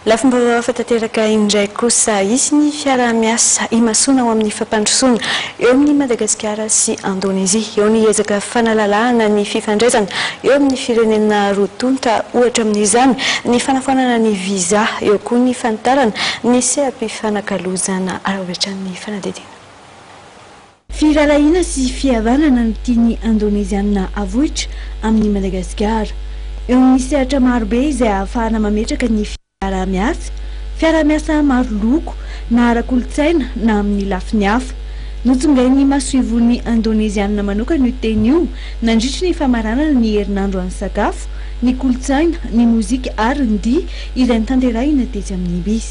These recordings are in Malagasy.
Lafim-baovao hafa tanteraka indray kosa, hisy ny fiaraha-miasa imasoana ho amin'ny fampandrosoana eo amin'i Madagasikara sy Indonezia. Eo ny ezaka fanalalahana ny fifandraisana eo amin'ny firenena roa tonta, ohatra amin'izany ny fanafoanana ny visa, eo koa ny fanitarana ny seha-pifanakalozana avy hatrany fanadihadiana. Firahalahiana sy fihavanana no tian'ny Indoneziana havoitra amin'i Madagasikara. Eo amin'ny sehatra marobe izay ahafahana mametraka ny fiaraha-miasa, fiaraha-miasa maro loko, na ara-kolontsaina na amin'ny lafiny hafa. Notsongain'ny masoivohon'ny Indoneziana manokana io teny io nandritry ny famaranana ny herinandro an'ny sakafo, ny kolontsaina, ny mozika ary ny dihy izay notanterahina tetsy amin'ny Ibis.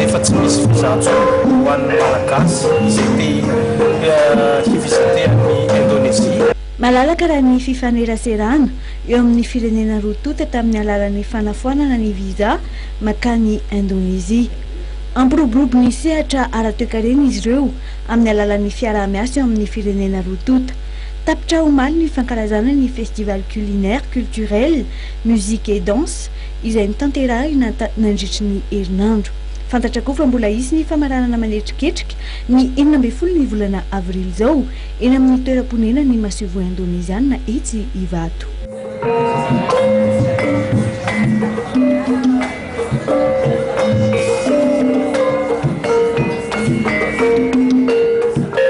Efa tsy misy visa intsony ho an'ny Malagasy izay te hi-visiter an'i Indonesie. Malalaka raha ny fifaneraserana eo amin'ny firenena roa tonta tamin'ny alalan'ny fanafoanana ny visa mankany Indonesie. Hampiroborobo ny sehatra ara-toekarena izy ireo amin'ny alalan'ny fiaraha-miasa eo amin'ny firenena roa tonta. Tapitra omaly ny fankalazana ny Festival Culinaire, Culturel, Musique et Danse, izay notanterahina nandritry ny herinandro. Fantatra koa fa mbola hisy ny famaranana manetriketrika ny enina ambin'ny folo ny volana avrily izao eny amin'ny toeram-ponenan'ny masoivoho indoneziana etsy Ivato.